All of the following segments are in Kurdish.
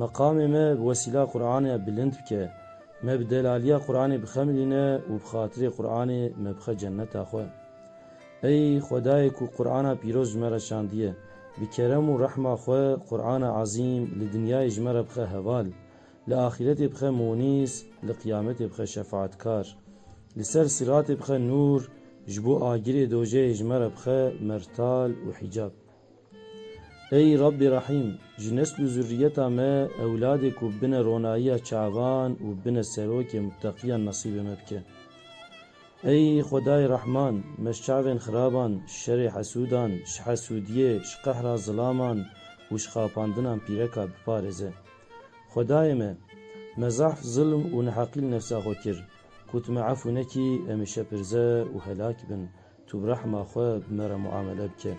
Meqamê me bi wesîla Quranê ya bilind bike. Me bi delaliya Quranê bixemilîne û bi xatirê Quranê me bixe cenneta xwe. Ey Xwedayê ku Qurana pîroz ji me re şandiye, bi kerem û rehma xwe Qurana Ezîm li dinyayê ji me re bixe heval, li axîretê bixe mûnîs, li qiyametê bixe şefaatkar. Li ser siratê bixe nûr, ji bo agirê dojeyê ji me re bixe mertal û hîcab. Ey Rabbî Rehîm! Ji nesl û zurrîyeta me ewladê ku bine ronayîya çavan û bine serokê muteqîyan nesîbê me bike. Ey Xwedayê Rehman! Me ji çavên xiraban, ji şerê hesûdan, ji hesûdîyê, ji qehra zilaman û ji xapandinan pîreka biparêze. Xwedayê me! Me zehf, zilm û neheqî li nefsa xwe kir. Ku tu me efû nekî, em ê şepirze û helak bin. Tu bi rehma xwe bi me re muamele bike.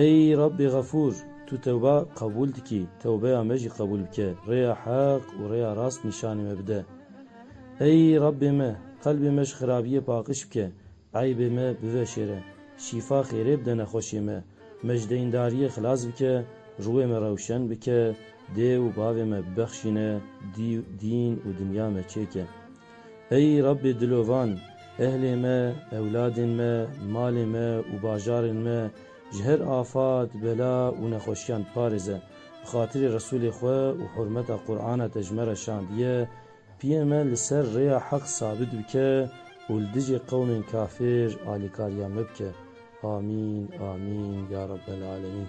Ey Rabbê Xefûr! Tu tewba qebûl dikî, tewbeya me jî qebûl bike, rêya heq û rêya rast nîşanî me bide. Ey Rabbê me! Qelbê me ji xirabiyê paqiş bike, eybê me biveşêre, şîfa xêrê bide nexweşê me, me ji deyndariyê xilas bike, rûyê me rewşen bike, dê û bavê me bibexşîne, dîn û dinya me çêke. Ey Rabbê dilovan, ehlê me, ewladên me, malê me û bajarên me ji her afat, bela û nexweşiyan biparêze. Bi xatirê Resûlê xwe û hurmeta Qur'ana te ji me re şandiye, piyê me li ser rêya heq sabit bike û li dijî qewmên kafir alîkariya me bike. Amîn, amîn, ya Rabbel alemîn.